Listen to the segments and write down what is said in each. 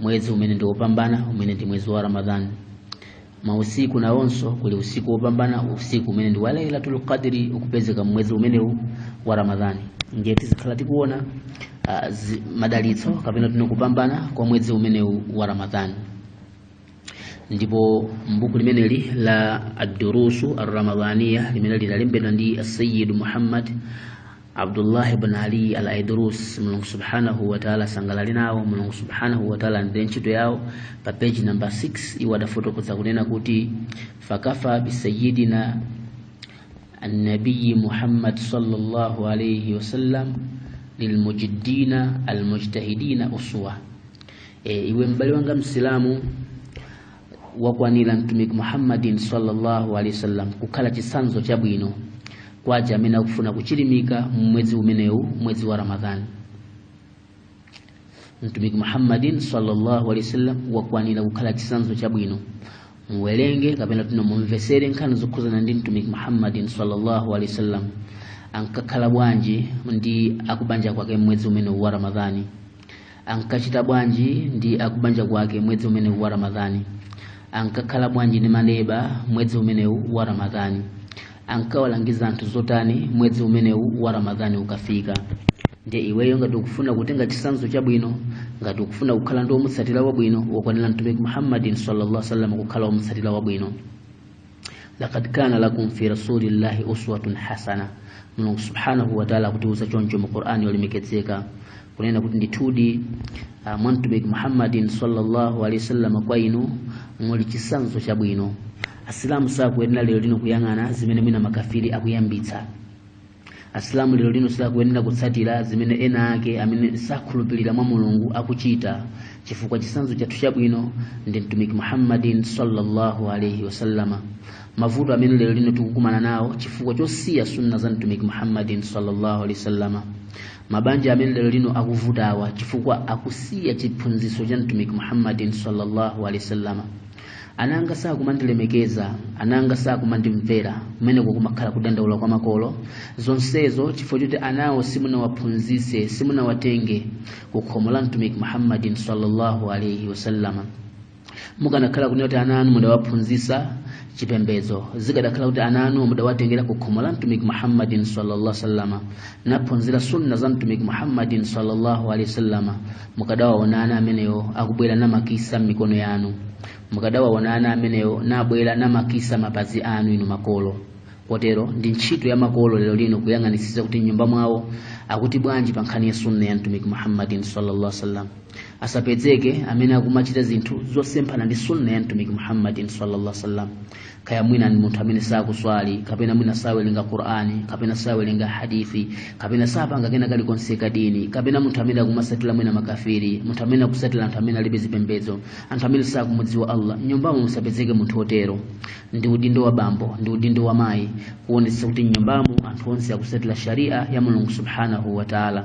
mwezi umene ndi wopambana umene ndi mwezi wa ramadhan mausiku nawonso kuli usiku wopambana usiku umene ndi wa lailatul qadri ukupezeka mwezi umenewu wa ramadhani ndiye tizikhala tikuona uh, zi, madalitso kapena tinene kupambana kwa mwezi umenewu wa ramadhani ndipo mbuku limeneli la ad-durusu ar-ramadhaniya limene linalembedwa ndi asayid muhammad abdullah ibn ali al aidrus mulungu subhanahu wataala asangalale nawo mulungu subhanahu wataala andire ntchito yawo pa peji namba 6 iwo adafotokoza kunena kuti fakafa bisayidina annabiyi muhammad sallallahu alaihi wasallam lilmujiddina almujtahidina uswa e, iwe m'bale wanga msilamu wakwanira mtumiki muhammadin sallallahu alaihi wasallam kukhala chitsanzo chabwino kwa aja amene akufuna kuchilimika mmwezi umenewu mwezi wa ramadhani mtumiki muhammadin sallallahu alaihi wasallam wakwanira kukhala chitsanzo chabwino muwerenge kapena tinene mumvesere nkhani zokhuzana ndi mtumiki muhammadin sallallahu alaihi wasallam ankakhala bwanji ndi akubanja kwake mmwezi umenewu wa ramadhani ankachita bwanji ndi akubanja kwake mwezi umenewu wa ramadhani ankakhala bwanji ndi maneba mwezi umenewu wa ramadhani ankawalangiza anthu zotani mwezi umenewu wa ramadhani ukafika ndiye iweyo ngati ukufuna kutenga chisanzo chabwino ngati ukufuna kukhala ndi omutsatira wabwino wakwanira mtumiki muhammadin sallallahu alaihi wasallam kukhala omutsatira wabwino laqad kana lakum fi rasulillahi uswatun hasana mulungu subhanahu wataala akutiuza choncho mu qur'ani yolemekezeka kunena kuti ndithudi uh, mwa mtumiki muhammadin sallallahu alaihi wasallam kwa inu muli chisanzo chabwino asilamu sakuyenera lero lino kuyang'ana zimene mwina makafiri akuyambitsa asilamu lero lino sakuyenera kutsatira zimene ena ake amene sakhulupirira mwa mulungu akuchita chifukwa chisanzo chathu chabwino ndi mtumiki muhammadin sallallahu alaihi wasallama mavuto amene lero lino tikukumana nawo chifukwa chosiya sunna za mtumiki muhammadin sallallahu alaihi wasallama mabanja amene lero lino akuvutawa chifukwa akusiya chiphunzitso cha mtumiki muhammadin sallallahu alaihi wasallama ana anga sakumandilemekeza ana anga sakumandimvera kumeneko kumakhala kudandaula kwa makolo zonsezo chifukwa choti anawo simunawaphunzitse simunawatenge ku khomo la mtumiki muhammadin sallallahu alaihi wasallama mukanakhala kunena kuti ana anu mudawaphunzitsa chipembedzo zikadakhala kuti ana anu mudawatengera ku khomo la mtumiki muhammadin sallallahu sallama naphunzira sunna za mtumiki muhammadin sallallahu alaihi wasallama mukadawaona ana amenewo akubwera namakisa m'mikono yanu mukadawaona ana amenewo nabwera namakisa mapazi anu inu makolo kotero ndi ntchito ya makolo lero lino kuyang'anitsitsa kuti mnyumba mwawo akuti bwanji pa nkhani ya sunna ya mtumiki muhammadin sallallahu alaihi wasallam asapezeke amene akumachita zinthu zosemphana ndi sunna ya mtumiki muhammadin sallallahu alaihi wasallam kaya mwina ni munthu amene sakuswali kapena mwina sawerenga qur'ani kapena sawerenga hadithi kapena sapanga kena kalikonse kadini kapena munthu amene akumasatira mwina makafiri munthu amene akusatira anthu amene alibe zipembedzo anthu amene sakumudziwa allah mnyumbamo musapezeke munthu otero ndi udindo wa bambo ndi udindo wa mayi kuonetsa kuti mnyumbamo anthu onse akusatira sharia ya mulungu subhanahu wa taala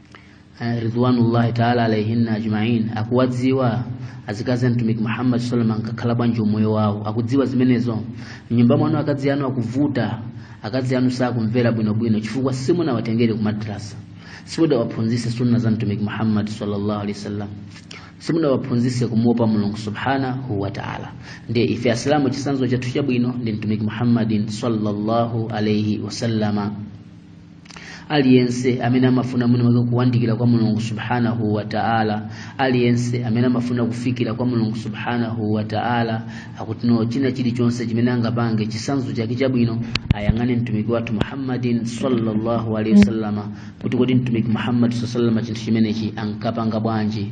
eh, ridwanullahi taala alaihinna ajmain akuwadziwa azikazi a mtumiki muhammad sallallahu alaihi wasallam ankakhala bwanji umoyo wawo akudziwa zimenezo mnyumba mwanu akazi anu akuvuta akazi anu sakumvera bwinobwino chifukwa simunawatengere ku madrasa simudawaphunzise sunna za mtumiki muhammad sallallahu alaihi wasallam simudawaphunzise kumuopa mulungu subhanahu wa taala ndiye ife asilamu chisanzo chathu chabwino ndi mtumiki muhammadin sallallahu alaihi wasallama aliyense amene amafuna mwiniwake kuwandikira kwa mulungu subhanahu wa ta'ala aliyense amene amafuna kufikira kwa mulungu subhanahu wa ta'ala akuti no china chilichonse chimene angapange chisanzo chake chabwino ayang'ane mtumiki wathu muhammadin sallallahu alaihi wasallama kuti kodi mtumiki muhammad sallallahu alaihi wasallama chinthu chimenechi ankapanga bwanji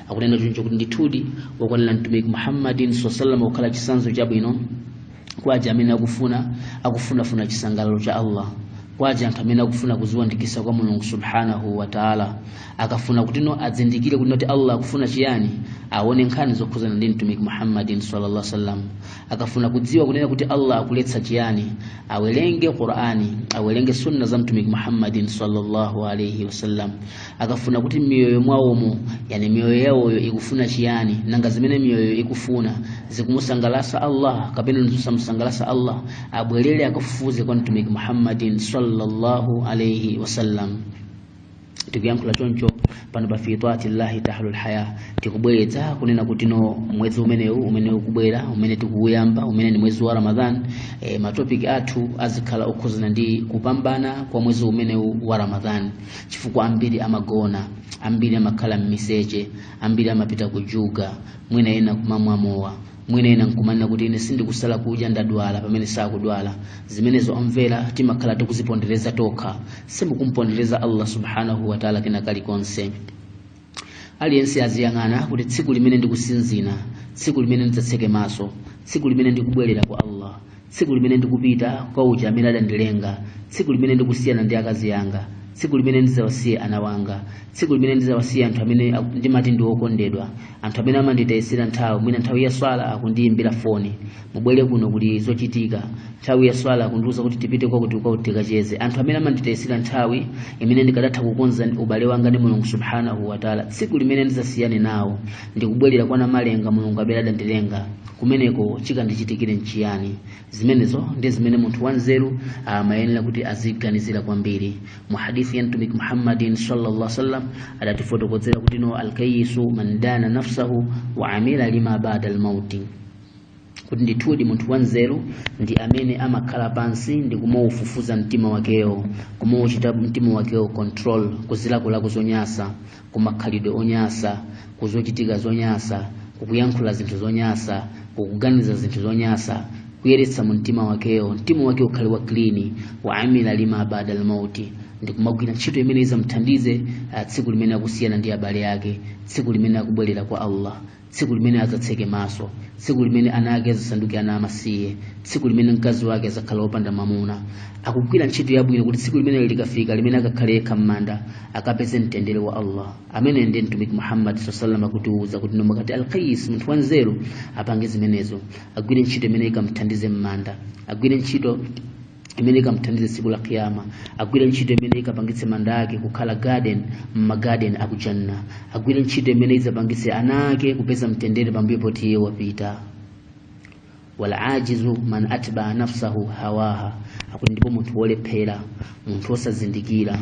akunena choncho kuti ndithudi wakwanira mtumiki muhammadin saa salam kukhala chitsanzo chabwino kwa aja amene akufuna akufunafuna chisangalalo cha allah kwa aja anthu amene akufuna kuziwandikisa kwa mulungu subhanahu wa taala akafuna kutino adzindikire kuti no allah akufuna chiyani aone nkhani zokhuzana ndi mtumiki muhammadin sallallahu sallam akafuna kudziwa kunena kuti allah akuletsa chiyani awerenge qurani awerenge sunna za mtumiki muhammadin sallallahu alaihi wasallam akafuna kuti m'miyoyo mwawomo yani miyoyo yawoyo ikufuna chiyani nanga zimene miyoyo ikufuna zikumusangalasa allah kapena zisamusangalasa allah abwerere akafufuze kwa mtumiki muhammadin sallallahu alaihi wasallam tikuyankhula choncho pano pa fi twaati llahi tahlul haya tikubweretsa kunena kuti no mwezi umene ukubwera umene tikuuyamba umene ni mwezi wa ramadhan e, matopiki athu azikhala okhuzana ndi kupambana kwa mwezi umenewu wa ramadhan chifukwa ambiri amagona ambiri amakhala m'miseche ambiri amapita kujuga mwina ena kumamwa mowa mwina ena nkumanena kuti ine sindikusala kudya ndadwala pamene sakudwala zimenezo omvera timakhala tikuzipondereza tokha simukumpondereza allah subhanahu wataala kena kalikonse aliyense aziyang'ana kuti tsiku limene ndikusinzina tsiku limene ndidzatseke maso tsiku limene ndikubwerera kwa allah tsiku limene ndikupita kwa uja amene adandilenga tsiku limene ndikusiyana ndi akazi yanga tsiku limene ndidzawasiye ana wanga tsiku limene ndidzawasiye anthu amene ndimati ndi okondedwa anthu amene amanditayisira nthawi mwina nthawi ya swala akundiyimbira foni mubwere kuno kuli zochitika nthawi ya swala akundiuza kuti tipite kwakuti kwakuti tikacheze anthu amene amanditayisira nthawi imene ndikadatha kukonza ubale wanga ndi mulungu subhanahu wataala tsiku limene ndizasiyane nawo ndikubwerera kwa namalenga mulungu amene adandilenga kumeneko chikandichitikire nchiyani zimenezo ndi zimene munthu wanzeru amayenera kuti aziganizira kwambiri mu hadithi ya mtumiki muhammadin sallallahu alaihi wasallam adatifotokozera kuti no alkayisu man dana nafsahu wa amila lima bada almauti kuti ndithudi munthu wanzeru ndi amene amakhala pansi ndi kumaufufuza mtima wakewo kumauchita mtima wakewo control kuzilakolako zonyasa kumakhalidwe onyasa kuzochitika zonyasa kukuyankhula zinthu zonyasa kukuganiza zinthu zonyasa kuyeretsa mtima wakewo mtima wake ukhale wa clean wa amila lima bada lmauti ndi kumagwira ntchito imene izamthandize tsiku limene akusiyana ndi abale ake tsiku limene akubwerera kwa allah tsiku limene azatseke maso tsiku limene ana ake azasanduke ana amasiye tsiku limene mkazi wake azakhala wopanda mamuna akugwira ntchito yabwino kuti tsiku limene likafika limene akakhale yekha m'manda akapeze mtendere wa allah amene ndiye mtumiki muhammad sallallahu alaihi wasallam akutiwuza kuti nomwe kati alkais munthu wanzeru apange zimenezo agwire ntchito imene ikamthandize m'manda agwire ntchito imene ikamthandize tsiku la kiyama agwire ntchito imene ikapangitse manda ake kukhala garden m'magarden akujanna agwire ntchito imene izapangitse ana ake kupeza mtendere pambuyo poti iye wapita walajizu man atbaa nafsahu hawaha akuti ndipo munthu wolephera munthu wosazindikira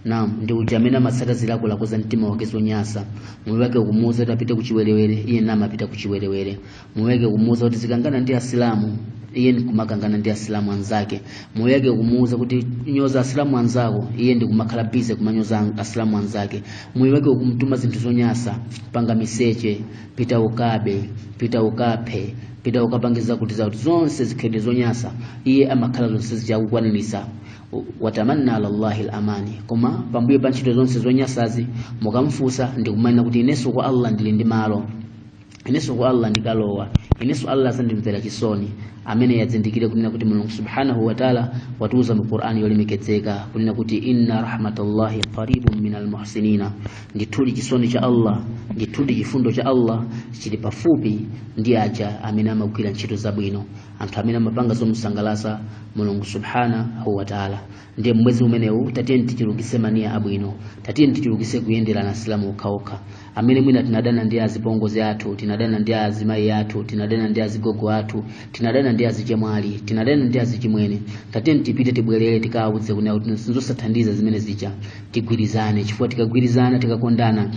naam ndi uja amene amatsata zilakolako za mtima wake zonyasa moyo wake ukumuwuza kuti apite kuchiwerewere iye namapita kuchiwerewere moyo wake ukumuuza kuti zikangana ndi asilamu iye ndikumakangana ndi asilamu anzake moyo wake ukumuuza kuti nyoza asilamu anzako iye ndikumakhala bize kumanyoza an- asilamu anzake moyo wake ukumtuma zinthu zonyasa panga miseche pita ukabe pita ukaphe pita ukapange zakuti zakuti zonse zikhwidwe zonyasa iye amakhala zonse zija akukwanirisa watamanna ala llahi lamani koma pambuyo pa ntchito zonse zonyasazi mukamfunsa ndikumanena kuti inenso kwa allah ndili ndi malo inenso kwa allah ndikalowa inenso allah azandimvera chisoni ameneyo azindikire kunena kuti mulungu subhanahu wataala watiuza mu qur'ani yolemekezeka kunena kuti inna rahmatallahi qaribun min almuhsinina ndithudi chisoni cha allah ndithudi chifundo cha allah chili pafupi ndi aja amene amagwira ntchito zabwino anthu amene amapanga zomusangalatsa mulungu subhanahu wataala ndiye mmwezi umenewu tatiyeni tichulukise maniya abwino tatiyeni tichulukise kuyenderana asilamu okhaokha amene mwina tinadana ndi azipongozi athu tinadana ndi azimayi athu tinadana ndi azigogo athu tinadana ndi azichemwali tinadana ndi azichimwene tatiyeni tipite tibwerere tikawauze kunena kuti sinzothandiza zimene zija tigwirizane chifukwa tikagwirizana tikakondana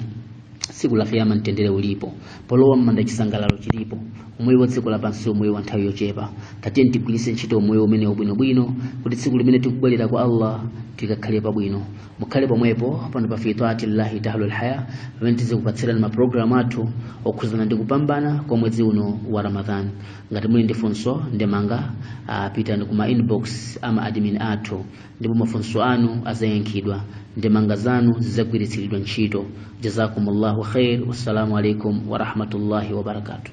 tsiku la kiyama mtendere ulipo polowa m'manda chisangalalo chilipo umoyo wa dziko lapansi umoyo wa nthawi yochepa tatiyeni tigwiritse ntchito umoyo umene ubwinobwino kuti tsiku limene tikubwerera kwa allah tikakhale pabwino mukhale pomwepo pano pa fi taatillahi tahlul haya pamene tizikupatsirani mapulogalamu athu okhuzana ndi kupambana kwa mwezi uno wa ramadhan ngati muli ndi funso ndemanga ah, pitani kuma inbox ama admin athu ndipo mafunso anu azayankhidwa ndemanga zanu zizagwiritsiridwa ntchito jazakumullahu khair wassalamu alaikum warahmatullahi wabarakatuh